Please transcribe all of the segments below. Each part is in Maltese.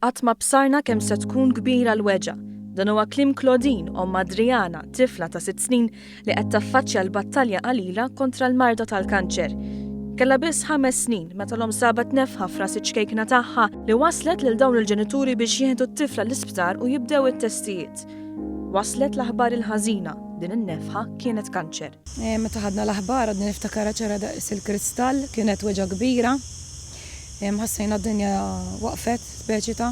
Qatt ma bsarna kemm se tkun kbira l-weġa'. Dan huwa kliem Claudine, omm Adriana, tifla ta' sitt snin li qed taffaċċja l-battalja qalila kontra l-marda tal-kanċer. Kellha biss ħames snin meta l-omm sabat nefħa f'ras iċ-ċkejkna tagħha li wasslet lil dawn il-ġenituri biex jieħdu t-tifla l-isptar u jibdew it-testijiet. Waslet l-aħbar il-ħażina, din in-nefħa kienet kanċer. Meta ħadna l-aħbar għadni niftakarha ċara daqs il-kristall, kienet weġgħa kbira. Ħassejna d-dinja waqfet, speċi ta'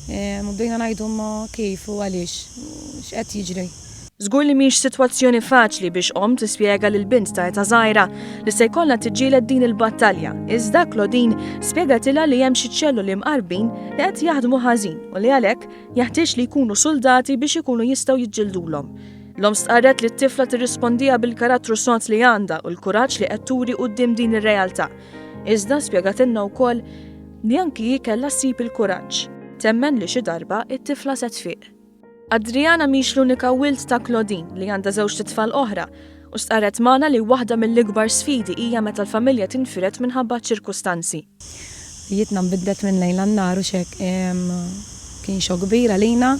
u bdejna ngħidu ma kif u għaliex, x'qed jiġri. Żgur li mhix sitwazzjoni faċli biex omm tispjega lil bint ta' età żgħira li se jkollha tiġġieled din il-battalja, iżda Claudine spjegatilha li hemm xi ċelloli mqarbin li qed jaħdmu ħażin u li għalhekk Jeħtieġ li jkunu suldati biex ikunu jistgħu jiġġildulhom. L-omm stqarret li t-tifla tirrispondiha bil-karattru sod li għandha u l-kuraġġ li qed turi quddiem din ir-realtà. Iżda spjegatilna wkoll li anki hi kellha ssib il-kuraġġ. Temmen li xi darba t-tifla se tfiq. Adriana mhix l-unika wild ta' Claudine li għandha żewġt itfal oħra. u stqarret magħna li waħda mill-ikbar sfidi hija meta l-familja tinfired minħabba ċ-ċirkustanzi. Ħajjitna nbidlet minn lejl għan-nhar u x'hekk. Kien xokk kbir għalina.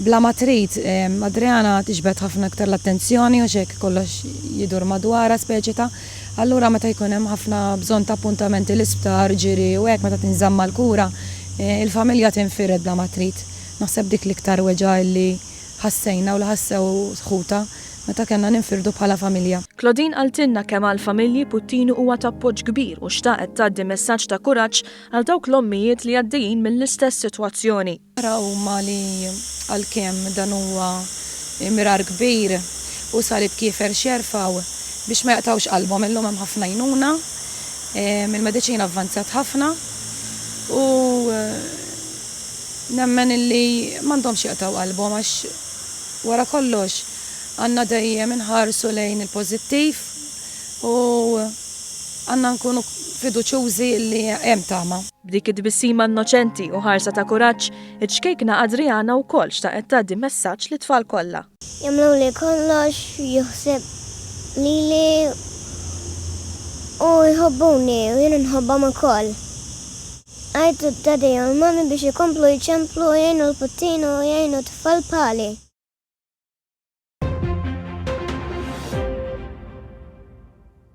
Bla ma trid, Adriana tixbet ħafna iktar l-attenzjoni u x'hekk kollox jidur madwarha, speċi ta'. Allura meta jkun hemm ħafna bżonn ta' appuntamenti l-isptar, ġiri u hekk meta tinżamm mal-kura, il-familja tinfired bla ma trid. Naħseb dik l-iktar weġgħa illi ħassejna u li ħassew ħutha. meta kellna ninfirdu bħala familja. Claudine qaltilna kemm għall-familji Puttini huwa ta' appoġġ kbir u xtaqet tgħaddi messaġġ ta' kuraġġ għal dawk l-ommijiet li għaddejjin mill-istess sitwazzjoni. Ara huma li għalkemm dan huwa mirar kbir u salib kiefer x'jerfgħu biex ma jaqtgħux qalbhom. Illum hemm ħafna għajnuna, il-mediċina avvanzat ħafna u nemmen illi m'għandhomx jaqtgħu qalbhom għax. Wara kollox, għandna dejjem inħarsu lejn il-pożittiv u għandna nkunu fiduċjużi li hemm tama. B'dik it-tbissima innoċenti u ħarsa ta' kuraġġ, iċ-ċkejkna Adriana wkoll xtaqet tgħaddi messaġġ lit-tfal kollha. Jagħmluli kollox, juħseb lili u jħobbuni u jien inħobbhom ukoll. Għajtu d-daddy u l-mommy biex ikomplu jċemplu u jgħinu l-puttini u jgħinu t-tfal bħali.